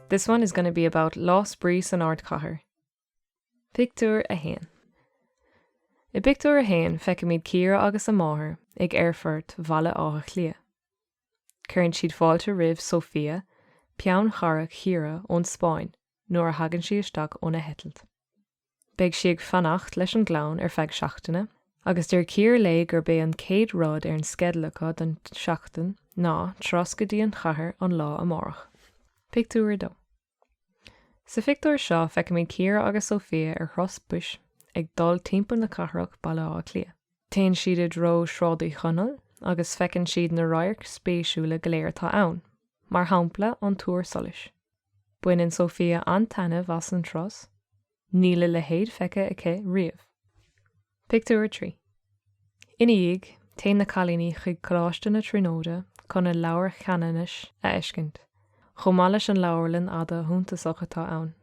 This one is going to be about Lá Spraoi san Ardchathair. Pictiúr 1 I bpictiúr 1 feicimid Ciara agus a máthair ag Aerfort Bhaile Átha Cliath. Cuireann siad fáilte roimh Sofia, peannchara Chiara ón Spáinn, nuair a thagann sí isteach óna heitilt. Beidh sí ag fanacht leis an gclann ar feadh seachtaine agus deir Ciara léi gurb é an chéad rud ar an sceideal acu don seachtain ná turas go dtí an chathair an lá amárach. Pictiúr 2 Sa phictiúr seo feicimid Ciara agus Sofia ar thuras bus ag dul timpeall na cathrach, Baile Átha Cliath. Téann siad i dtreo Sráid Uí Chonaill agus feiceann siad na radhairc spéisiúla go léir atá ann, mar shampla an Túr Solais. Baineann Sofia an-taitneamh as an turas, níl a leithéid feicthe aici riamh. Pictiúr 3 Ina dhiaidh, téann na cailíní chuig Coláiste na Tríonóide chun an Leabhar Cheanannais a fheiscint, chomh maith leis an leabharlann fhada shuntasach atá ann.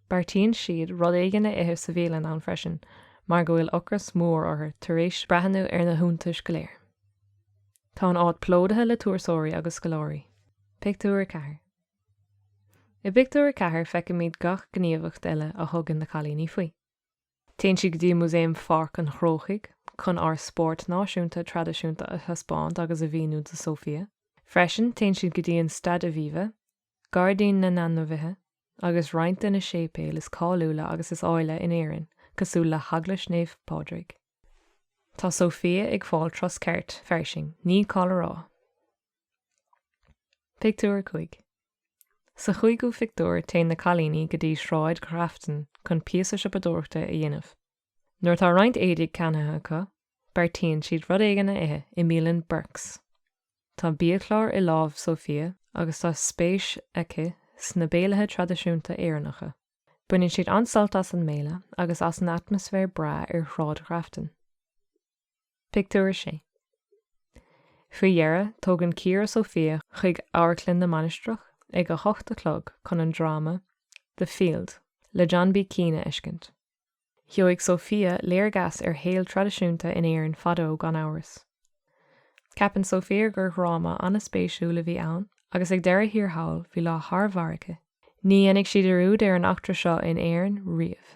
Beartaíonn siad rud éigin a ithe sa bhialann ann freisin mar go bhfuil ocras mór orthu tar éis breathnú ar na hiontais go léir. Tá an áit plódaithe le turasóirí agus scoláirí. Pictiúr 4. I bpictiúr 4 feicimid gach gníomhaíocht eile a thugann na cailíní faoi. Téann siad go dtí Músaem Pháirc an Chrócaigh chun ár spórt náisiúnta traidisiúnta a thaispeáint agus a mhíniú do Sofia. Freisin, téann siad go dtí an Staid Aviva, Gairdín na nAinmhithe agus roinnt de na séipéil is cáiliúla agus is áille in Éirinn, cosúil le hEaglais Naomh Pádraig. Tá Sofia ag fáil turas ceart fairsing, ní call a rá. Pictiúr 5 Sa chúigiú phictiúr téann na cailíní go dtí Sráid Ghrafton chun píosa siopadóireachta a dhéanamh. Nuair atá roinnt éadaigh ceannaithe acu, beartaíonn siad rud éigin a ithe i mbialann Burke's. Tá biachlár i lámh Sofia agus tá spéis aici sna béilithe traidisiúnta Éireannacha. Baineann siad an-sult as an mbéile agus as an atmaisféar breá ar Shráid Ghrafton. Pictiúr 6. Faoi dheireadh, tógann Ciara Sofia chuig Amharclann na Mainistreach ag a hocht a chlog chun an dráma The Field le John B Keane a fheiscint. Gheobhaidh Sofia léargas ar shaol traidisiúnta in Éirinn fadó gan amhras. Ceapann Sofia gur dhráma an-spéisiúil a bhí ann agus ag deireadh thiar thall bhí lá thar barr aici. Ní dhéanfaidh sí dearúd ar an eachtra seo in Éirinn riamh.